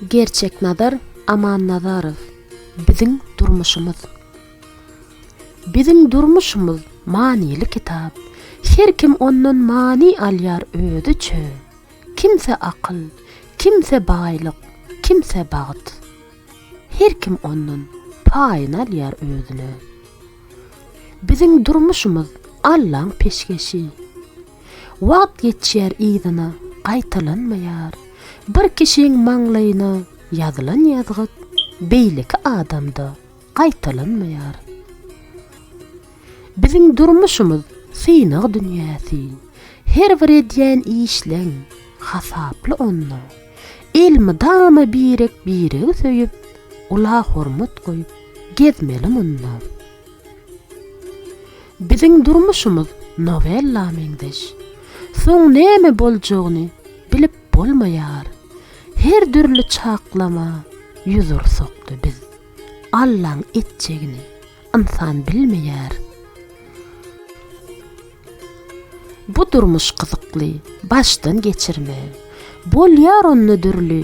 Gerçeknazar Amannazarow Biziň durmuşymyz Biziň durmuşymyz manyly kitap. Her kim ondan many alýar özi üçin. Kimse akyl, kimse baýlyk, kimse bagt. Her kim ondan paýyny alýar özüne. Biziň durmuşymyz Allaň peşgeşi. Wagt geçýär yzyna gaýtalanmaýar. Bir kişiň maňlaýyna ýazylan ýazgyt beýleki adamda gaýtalanmaýar. Biziň durmuşymyz synag dünýäsi. Her bir edýän işleň hasaply onda. Elmydama birek-biregi söýüp, ula hormat goýup gezmeli munda. Biziň durmuşymyz nowella meňzeş. Soň näme boljagyny bilip bolmaýar. Her dürli çaklama ýüz ursakda biz Allaň etjegini ynsan bilmeýär. Bu durmuş gyzykly başdan geçirme. Bolýar onda dürli.